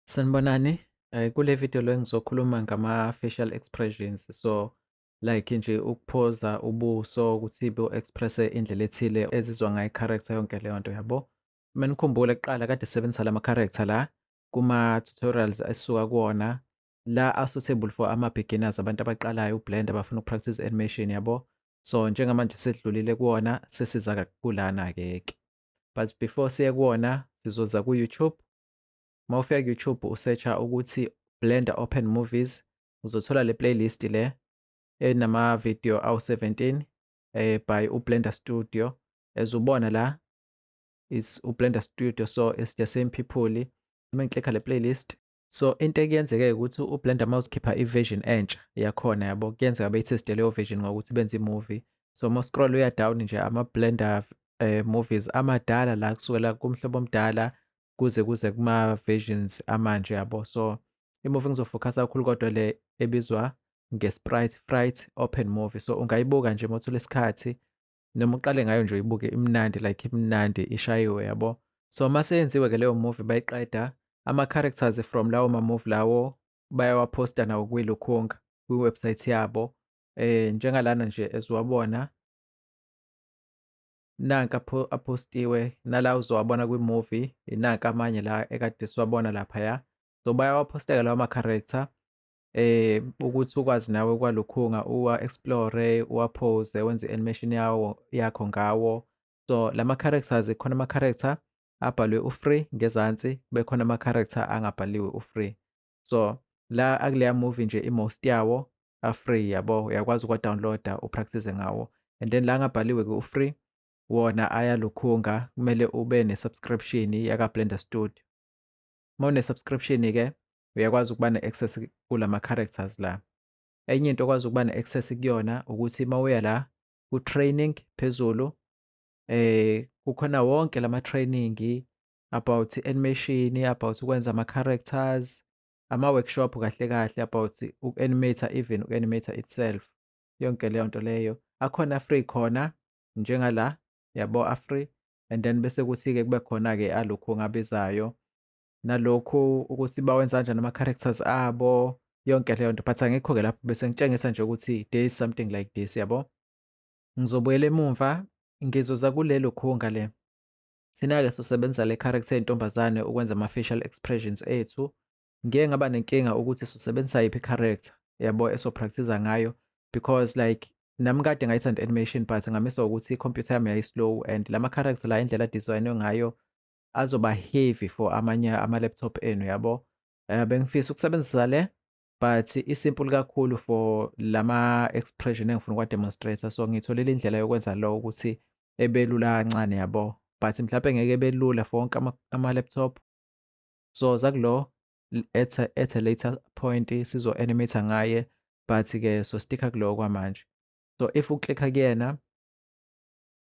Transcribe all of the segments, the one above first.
Sanibonani, eh, kule video lo ngizokhuluma ngama-facial expressions so like nje ukuphoza ubuso ukuthi bu-expresse indlela ethile ezizwa ngayo i-character yonke leyo nto yabo. Uma nikhumbula kuqala kade sisebenzisa la ma-character la kuma-tutorials esisuka kuwona la a-suitable for ama-beginners abantu abaqalayo ublend abafuna uku-practice animation yabo. So njengamanje sedlulile kuwona sesiza kulana-ke ke. But before siye kuwona sizoza ku-YouTube uma ufika ku-youtube usearch-a ukuthi blender open movies uzothola le playlist le enama-video awu-17 eh, by ublender studio as ubona la is ublender studio so it's the same people uma ngiklikha le playlist so into ekuyenzeke ukuthi ublender uma uzikhipha i-version entsha yakhona yabo kuyenzeka beyitheste leyo version ngokuthi benze i-movie so uma scroll uya down nje ama-blender eh, movies amadala la kusukela kumhlobo omdala kuze kuze kuma-versions amanje yabo so imuvi engizofokhasa kakhulu kodwa le ebizwa nge-sprite fright open movie so ungayibuka nje uma uthola isikhathi noma uqale ngayo nje uyibuke imnandi like imnandi ishayiwe yabo so uma seyenziwe-ke leyo movie bayiqeda ama-characters from lawo ma-movie lawo bayawaphosta nawo kwilukhunga kwi-website yabo eh njengalana nje eziwabona nanka pho apostiwe nala uzowabona kwi-movie nanka amanye la ekade siwabona laphaya so bayawaphosteka lawa ma-character eh ukuthi ukwazi nawe kwalukhunga uwa-explore uwaphose wenze i-animation yawo yakho ngawo so la ma-characters khona ama-character abhalwe u-free ngezansi bekhona ama-character angabhaliwe u-free so la akuleya movie nje i-most yawo a-free yabo uyakwazi ukuwa-download-a upractice ngawo and then la ngabhaliwe-ke u-free wona ayalukhunga kumele ube ne-subscription yaka-blender studio uma une-subscription-ke uyakwazi ukuba ne-access kula ma-characters la enye into okwazi ukuba ne-access kuyona ukuthi uma uya la ku-training phezulu eh kukhona wonke lama training about i-animation, about ukwenza ama-characters, ama-workshop kahle kahle about uku-animate even uku-animate itself. Yonke leyo nto leyo. Akhona a-free khona njengala, yabo a-free and then bese kuthi-ke kube khona-ke alokhu ngabizayo. Nalokhu ukuthi bawenza kanjani ama-characters abo, yonke leyo nto but angikho-ke lapho bese ngitshengisa nje ukuthi there is something like this, yabo. Ngizobuyela emumva, ngizoza kulelo khunga le. Thina-ke sosebenzisa le character yentombazane ukwenza ama-facial expressions ethu. Ngike ngaba nenkinga ukuthi sosebenzisa yiphi character yabo esopractiza ngayo because like nami kade ngayithanda animation but ngamisa ukuthi i-computer yami yayislow and la ma-character la indlela adesignwe ngayo azoba heavy for amanye ama-laptop enu yabo. Eh, bengifisa ukusebenzisa le but isimple kakhulu for lama expression engifuna ukwa demonstrator so ngitholile indlela yokwenza lo ukuthi ebelula kancane yabo but mhlawumbe ngeke ebelula for wonke ama laptop so zakulo at a, at a later point sizo animate ngaye but ke so sticker kulo kwamanje so if uclicka kuyena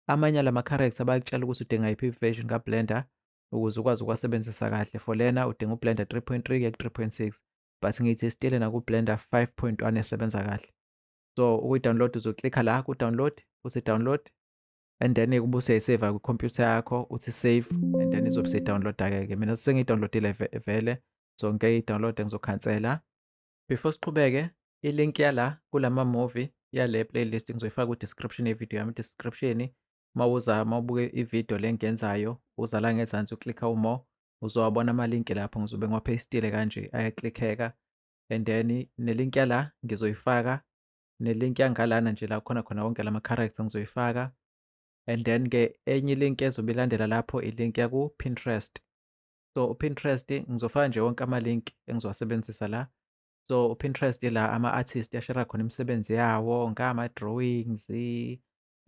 amanye lama character bayakutshela ukuthi udinga iphi version ka blender ukuze ukwazi ukuwasebenzisa kahle for lena udinga ublender 3.3 kuya ku-3.6 but ngithi isitile nakublender 5.1 esebenza kahle so ukuyi-download uzoklikha la ku-download uthi download and then kube useyiseva kwikhompyutha yakho uthi save and then izobe seyidownloada-ke ke mina sengiyidownloadile vele so ngeke idownloade ngizokhansela before siqhubeke ilink yala kulama-movie yale playlist ngizoyifaka ku-description yevideo yami description uma uza uma ubuke ividiyo le engiyenzayo uza la ngezansi uklikha umore uzowabona amalinki lapho ngizobe ngiwapheyistile kanje ayaklikheka and then nelinki yala ngizoyifaka nelinki yangalana nje la khona khona wonke lama character ngizoyifaka and then ke enye ilinki ezobe ilandela lapho ilinki yaku Pinterest so uPinterest ngizofaka nje wonke amalink engizowasebenza la so uPinterest la ama artist yashera khona imisebenzi yawo ngama drawings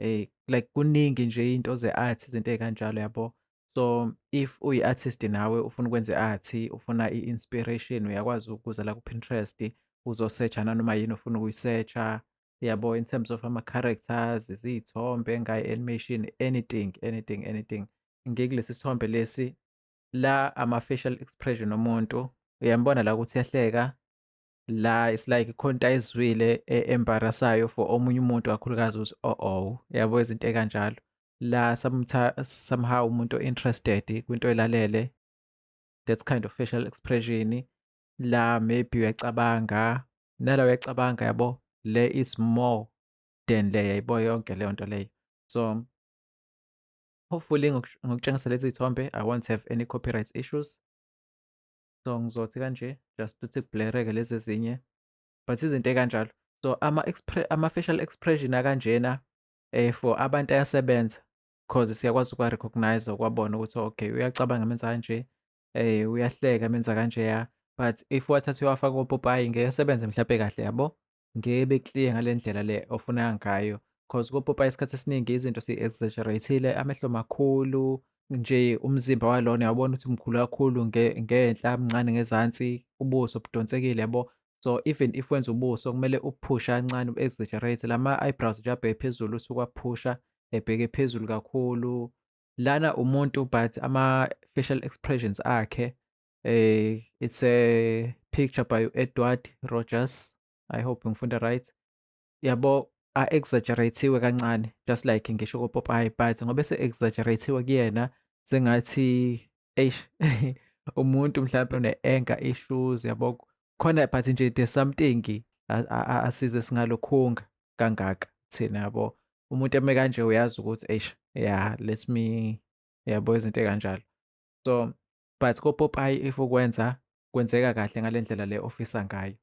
um like kuningi nje iy'nto ze-art izinto ey'kanjalo yabo so if uyi-artist nawe ufuna ukwenza i-art ufuna i-inspiration uyakwazi ukuza la ku-pinterest uzosetsha nanoma yini ofuna ukuyisetsha yabo in terms of ama-characters iziy'thombe ngayo animation anything anything anything ngikulesi sithombe lesi la ama-facial expression omuntu uyambona la ukuthi yahleka la it's like khonta izwile e, embarrassayo for omunye umuntu kakhulukazi ukuthi oh oh yabo izinto ekanjalo la somehow umuntu interested kwinto elalele that kind of facial expression la maybe uyacabanga nala uyacabanga yabo le is more than le yayibo yonke leyo nto leyo so hopefully ngokutshengisa lezi thombe i won't have any copyright issues so ngizothi kanje just ukuthi kublereke lezi ezinye but izinto ekanjalo so ama-facial expression akanjena um for abantu ayasebenza cause siyakwazi ukuwa-recognize ukwabona ukuthi okay uyacabanga menza kanje um uyahleka menza kanjeya but if wathatha uwafaka opopayi ngeke asebenze mhlawumpe kahle yabo ngeke be-clear ngale ndlela le ofuna ngayo cause kopopayi isikhathi esiningi izinto si-exaggerate-ile amehlo makhulu nje umzimba walona yabona ukuthi mkhulu kakhulu ngenhla mncane ngezansi ubuso budonsekile yabo so even if wenza ubuso kumele uphusha kancane u-exaggerate lama-eyebrows nje abheke phezulu usuke waphusha ebheke phezulu kakhulu lana umuntu but ama-facial expressions akhe Uh, it's a picture by Edward Rogers. I hope ngifunda right. Yabo a exaggeratiwe kancane just like ngisho ko Popeye but ngobe se exaggeratiwe kuyena sengathi eish umuntu mhlawumbe une anger issues yabo khona but nje there's something asize singalokhunga kangaka thina yabo umuntu eme kanje uyazi ukuthi eish yeah let me yabo izinto kanjalo so but kopopayi if ukwenza kwenzeka kahle ngale ndlela le ofisa ngayo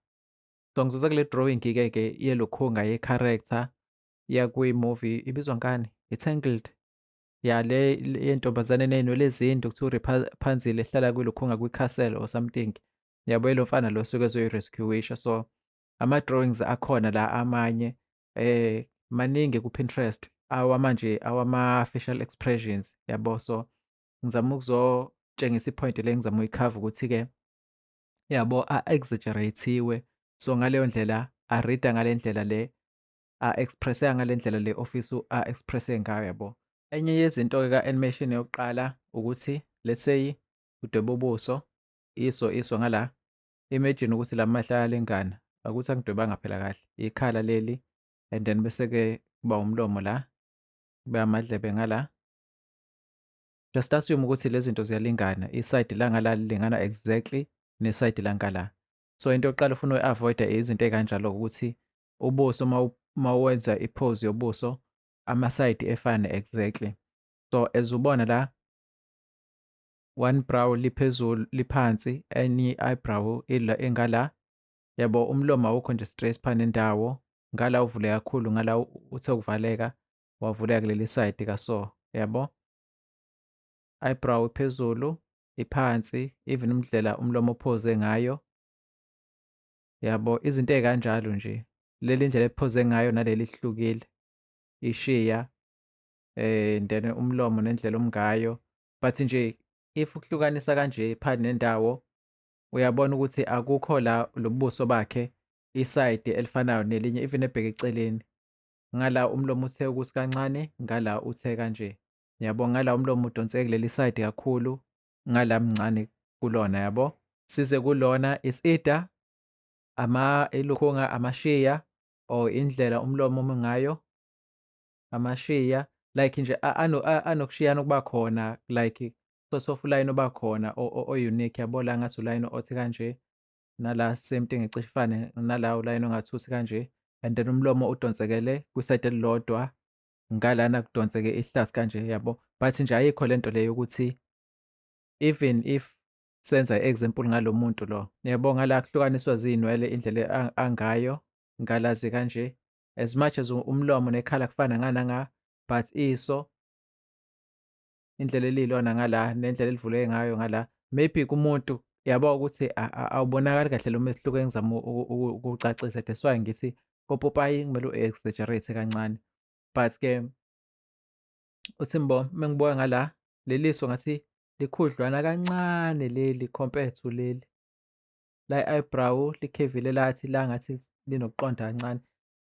so ngizoza kule drawing-ke ke yelokhunga ye-character yakwi-movie ibizwa ngani i-tangled ya le yentombazane neynwele ezindu kuthiwa uriphanzile ehlala kwilokhunga kwi-castle or something yabo lo mfana lo suke ezoyi-rescuisha so ama-drawings akhona la amanye eh maningi ku-Pinterest awamanje awama-facial expressions yabo so ngizama ukuzotshengisa i-point le ngizama uyikhava ukuthi-ke yabo a-exaggerate-iwe so ngaleyo ndlela arida ngale ndlela le a-expresseka ngale ndlela le ofisa a-expresse ngayo yabo enye yezinto-ke ka-animation yokuqala ukuthi let's say udweba ubuso iso iso ngala imagine ukuthi la mahla ayalingana akuthi angidwebanga phela kahle ikhala leli and then bese-ke kuba umlomo la kube amadlebe ngala Just assume ukuthi lezi zinto ziyalingana. Isayidi langala lilingana exactly nesayidi lankala. So into yokuqala ufuna uyi-avoida izinto ey'kanjalo ukuthi ubuso uma wenza i-pose yobuso amasayidi efane exactly. So as ubona la one brow liphezulu liphansi enye i-eyebrow ingala yabo umlomo awukho nje straight phana indawo ngala uvule kakhulu ngala uthe ukuvaleka wavuleka kuleli side ka so yabo eyebrow iphezulu iphansi even umdlela umlomo ophoze ngayo yabo izinto ezikanjalo nje leli ndlela ephoze ngayo naleli hlukile ishiya eh then umlomo nendlela omngayo but nje if ukuhlukanisa kanje phakathi nendawo uyabona ukuthi akukho la lobuso bakhe isayidi elifanayo nelinye even ebheke eceleni ngala umlomo uthe ukuthi kancane ngala uthe kanje yabo ngala umlomo udonse kuleli side kakhulu ngala mncane kulona yabo size kulona isida ama ilukhunga amashiya or indlela umlomo omi ngayo amashiya like nje anokushiyana ukuba khona like sosofa ulayini oba khona o-unique yabo la ngathi ulayini othi kanje nala same thing ecishe ifane nala ulayini ongathusi kanje and then umlomo udonsekele kwisayidi elilodwa ngalana kudonseke ihlathi kanje yabo but nje ayikho le nto leyo ukuthi even if senza i-example ngalo muntu lo yabo ngala kuhlukaniswa ziyinwele indlela angayo ngalazi kanje as much as umlomo nekhala kufana ngananga but iso indlela eliyilona ngala nendlela elivuleke ngayo ngala maybe kumuntu yabo ukuthi awubonakali kahle lo mehluko engizama ukucacisa that's why ngithi kopopayi kumele u-exaggerate kancane but ke uthi mbo mengibuka ngala leliso ngathi likhudlwana kancane leli compared to leli la eyebrow likhevile lathi la ngathi linokuqonda kancane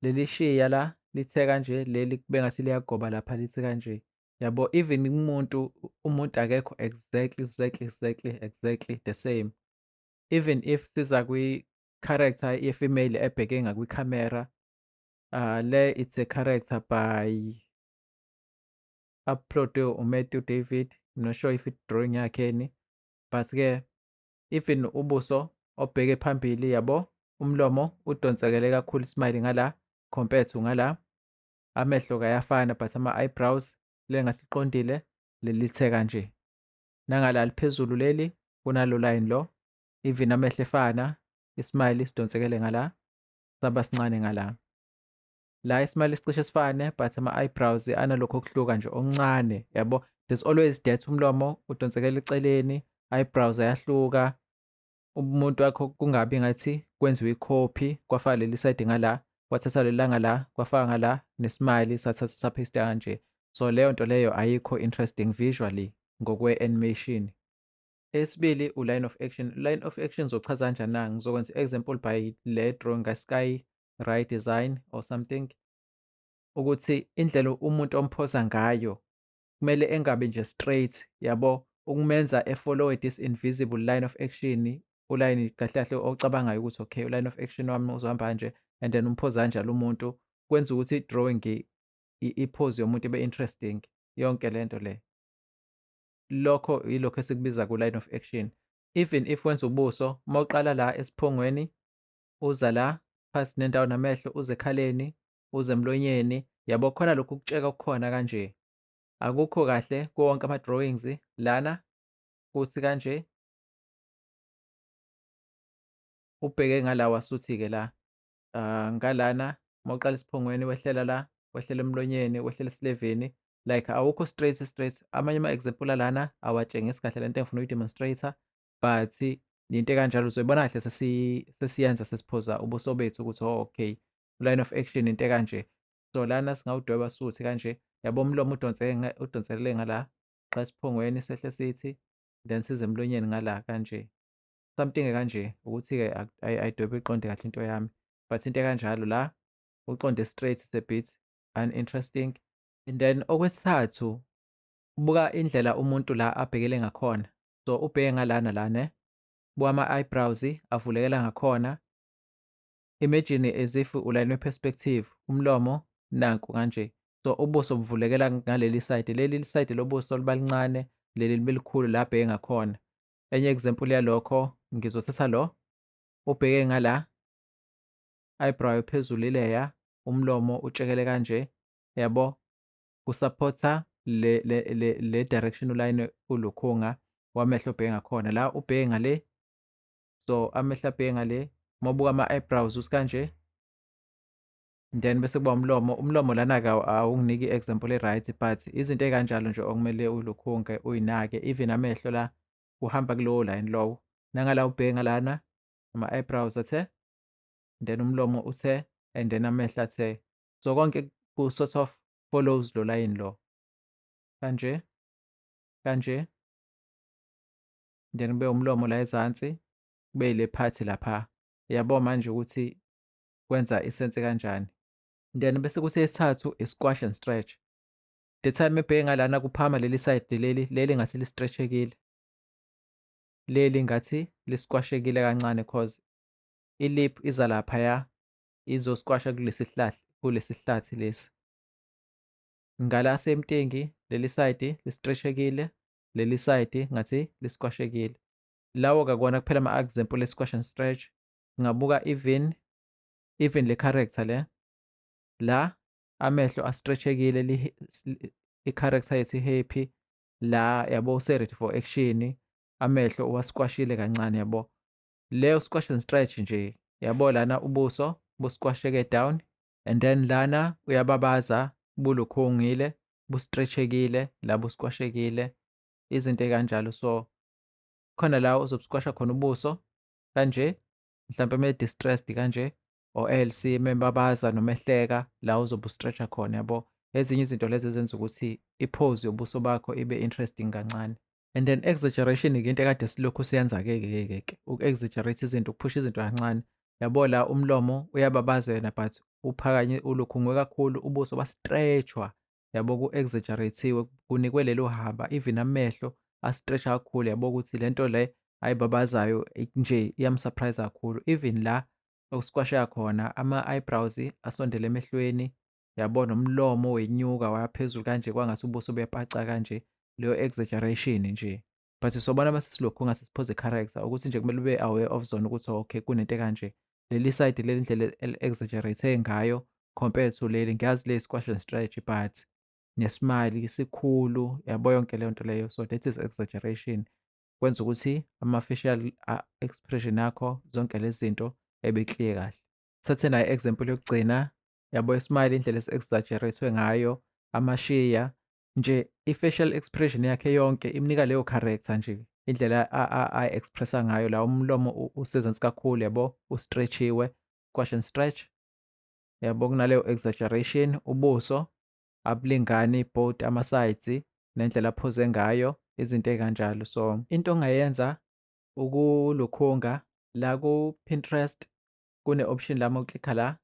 leli shiya la lithe kanje leli kube ngathi liyagoba lapha lithi kanje yabo even kumuntu umuntu akekho exactly exactly exactly exactly the same even if siza kwi-character ye-female ebheke ngakwi-camera uh, le it's a character by uploadwe umatthew david I'm not sure if it drawing yakhe ni but-ke even ubuso obheke phambili yabo umlomo udonsekele kakhulu ismile ngala compared to ngala amehlo kayafana but ama-eyebrows le ngasiqondile lelithe kanje nangala liphezulu leli kunalo line lo even amehlo efana ismile isidonsekele ngala saba sincane ngala la ismile sicishe sifane but ama-eyebrows analokho okuhluka nje okuncane yabo there's always that umlomo udonsekela eceleni eyebrows ayahluka umuntu wakho kungabi ngathi kwenziwe ikhophi kwafaka leli side ngala kwathatha lelanga la kwafaka ngala nesimali sathatha saphista kanje so leyo nto leyo ayikho interesting visually ngokwe-animation esibili u-line of action line of action zochaza kanjani na ngizokwenza i-example by le drawing ka-sky right design or something ukuthi indlela umuntu omphosa ngayo kumele engabi nje straight yabo ukumenza efollowe this invisible line of action ulayini kahle kahle ocabangayo ukuthi okay uline of action wami uzohamba kanje and then umphoza kanjalo umuntu kwenza ukuthi i-drawing iphozi yomuntu ibe interesting yonke le nto le lokho yilokho esikubiza ku-line of action even if wenza ubuso uma uqala la esiphongweni uza la phasi nendawo namehlo uze ekhaleni uze emlonyeni yabo khona lokhu kutsheka okukhona kanje akukho kahle kuwo wonke ama-drawings lana kuthi kanje ubheke ngala wasuthi-ke la uh, ngalana uma uqala esiphongweni wehlela la wehlela emlonyeni wehlela esileveni like awukho straight straight amanye ama-example alana awatshengisi kahle lento engifuna uyi-demonstrator but into ekanjalo uzoyibona kahle sesiyenza sesiphoza ubuso bethu ukuthi oh, okay line of action into ekanje so lana singawudweba suthi kanje yabo umlomo udonse udonselele ngala xa siphongweni sehle sithi then size emlonyeni ngala kanje something kanje ukuthi-ke ayidwebe iqonde kahle into yami but into ekanjalo la uqonde straight is a bit uninteresting and then okwesithathu buka indlela umuntu la abhekele ngakhona so ubheke ngalana la ne buka ama-eyebrows avulekela ngakhona Imagine as if ulayinwe perspective, umlomo nanku kanje. So ubuso buvulekela ngaleli side. Leli side lobuso liba lincane, leli libe likhulu la abheke ngakhona. Enye example yalokho ngizothatha lo ubheke ngala eyebrow phezulu ileya, umlomo utshekele kanje. Yabo? Kusupporta le le le le direction ulayine ulukhunga wamehlo ubheke ngakhona. La ubheke ngale so amehla abheke ngale uma ubuka ama-eyebrows usikanje then bese kuba umlomo umlomo lana-ke awunginiki i-example e-right but izinto ey'kanjalo nje okumele ulukhunge uyinake even amehlo la uhamba kulowo line lowo nangala ubheke ngalana ama-eyebrows athe then umlomo uthe and then amehlo athe so konke ku-sort of follows lo layini lo kanje kanje then kube umlomo la ezansi kube ile phathi lapha yabo manje ukuthi kwenza isense kanjani then bese kuthi esithathu i-squash and stretch the time ebheke ngalana kuphama leli side leli leli ngathi li-stretchekile leli ngathi li-squashekile kancane cause ilip iza laphaya izosquasha kulesihlathi kulesihlathi lesi ngala semtingi leli side li-stretchekile leli side ngathi lisikwashekile lawo kakona kuphela ama example le squash and stretch ngabuka even even le character le la amehlo astretchekile i character yethu happy la yabo use ready for action amehlo uwasikwashile kancane yabo leyo squash and stretch nje yabo lana ubuso busikwasheke down and then lana uyababaza bulukhungile bustretchekile la buskwashekile izinto ekanjalo so khona la uzobuskwasha khona ubuso kanje mhlawumpe uma distressed kanje or else membabaza noma ehleka la uzobe ustretcha khona yabo ezinye izinto lezi ezenza ukuthi iphozi yobuso bakho ibe interesting kancane and then exaggeration ke into ekade silokhu siyenza ke ke ke ke uku-exaggerate izinto ukuphusha izinto kancane yabo la umlomo uyababaza yena but uphakanye ulukhungwe kakhulu ubuso bastreshwa yabo ku-exaggerate-iwe kunikwe lelo haba even amehlo astresha kakhulu yabo ukuthi le nto le ayibabazayo nje iyamsurprise kakhulu even la okusikwasheka khona ama-eyebrows asondele emehlweni yabona umlomo wenyuka waphezulu kanje kwangase ubuso bepaca kanje leyo exaggeration nje but sobona uma sesilokhu ngase siphoze character ukuthi nje kumele ube aware of zona ukuthi okay kunento kanje leli side leli ndlela exaggerate ngayo compared to leli ngiyazi le squash and stretch but nesimali isikhulu yabo yonke leyo nto leyo so that is exaggeration kwenza ukuthi ama-facial expression akho zonke lezi zinto ebe clear kahle thathe nayo example yokugcina yabo ismile indlela esi-exaggeratwe ngayo amashiya nje i-facial expression yakhe yonke imnika leyo character nje indlela a-expressa ngayo la umlomo usezansi kakhulu yabo ustretchiwe squash and stretch yabo kunaleyo exaggeration ubuso abulingani both ama-sides nendlela aphuze ngayo izinto ey'kanjalo so into ongayenza ukulukhunga la ku-pinterest kune-option lama uklikha la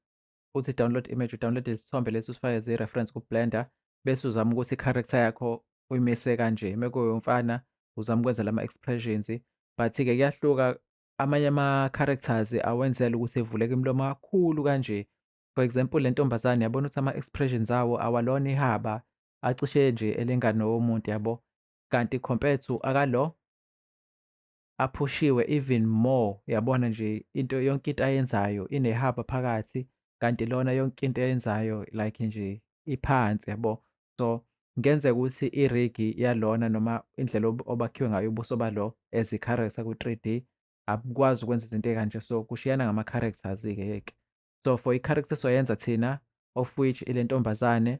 uthi download image udownload isithombe lesi usifake ziyi-reference ku-blender bese uzama ukuthi i-character yakho uyimise kanje mekuyomfana uzama ukwenza lama-expressions but-ke kuyahluka amanye ama-characters awenzela ukuthi evuleke imilomo kakhulu kanje for example le ntombazane yabona ukuthi ama-expressions awo awalona ihaba acishe nje elingane womuntu yabo kanti compared to akalo aphushiwe even more yabona nje into yonke into ayenzayo inehaba phakathi kanti lona yonke into ayenzayo like nje iphansi yabo so ngenzeka ukuthi irigi yalona noma indlela obakhiwe ngayo ubuso balo as i-character ku-3D abukwazi ukwenza izinto ekanje so kushiyana ngama-characters-ke yeke so for i-character soyenza thina of which ile ntombazane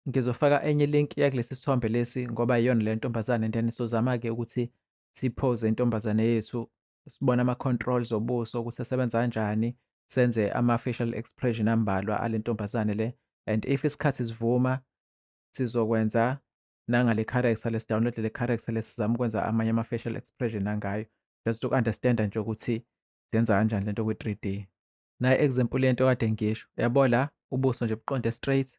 ngizofaka enye link yakulesi sithombe lesi ngoba iyona le ntombazane and then sozama-ke ukuthi siphoze intombazane yethu sibone ama-controls obuso ukuthi asebenza kanjani senze ama-facial expression ambalwa ale ntombazane le and if isikhathi sivuma sizokwenza nangale character lesidownload le character lesizama ukwenza amanye ama-facial expression angayo just uku-understanda nje ukuthi zenza kanjani lento kwi-three d naye example yento kade ngisho yabo la ubuso nje buqonde straight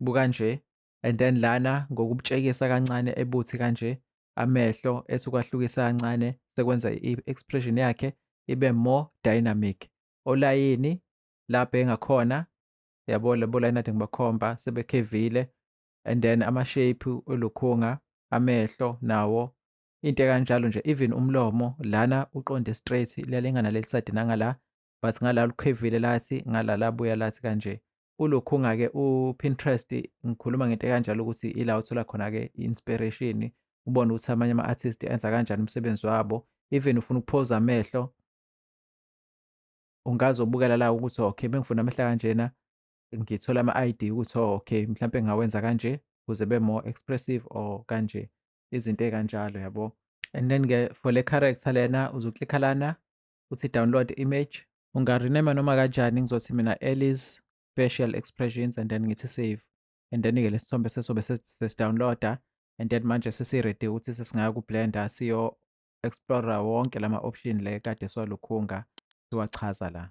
buka nje and then lana ngokubutshekisa kancane ebuthi kanje amehlo ethi ukwahlukisa kancane sekwenza i-expression yakhe ibe more dynamic olayini lapho engakhona yabo labo layini ade ngibakhomba sebekhevile and then amashape olukhunga amehlo nawo into ekanjalo nje even umlomo lana uqonde straight liyalingana leli side nangala but ngala lukhevile lathi ngala labuya lathi kanje ulokhunga ke uPinterest ngikhuluma ngento kanjalo ukuthi ila uthola khona ke inspiration ubone ukuthi amanye ama artist enza kanjani umsebenzi wabo even ufuna ukuphoza amehlo ungazobukela la ukuthi okay bengifuna amehla kanjena ngithola ama ID ukuthi oh, okay mhlawumbe ngawenza kanje kuze be more expressive or kanje izinto ekanjalo yabo and then ke for le character lena uzoklikha lana uthi download image ungarename noma kanjani ngizothi mina Ellis facial expressions and then ngithi save and then ke lesithombe sesobe sesidownloada and then manje sesiready ukuthi sesingaya kublender siyo explore wonke lama option le kade siwalukhunga siwachaza la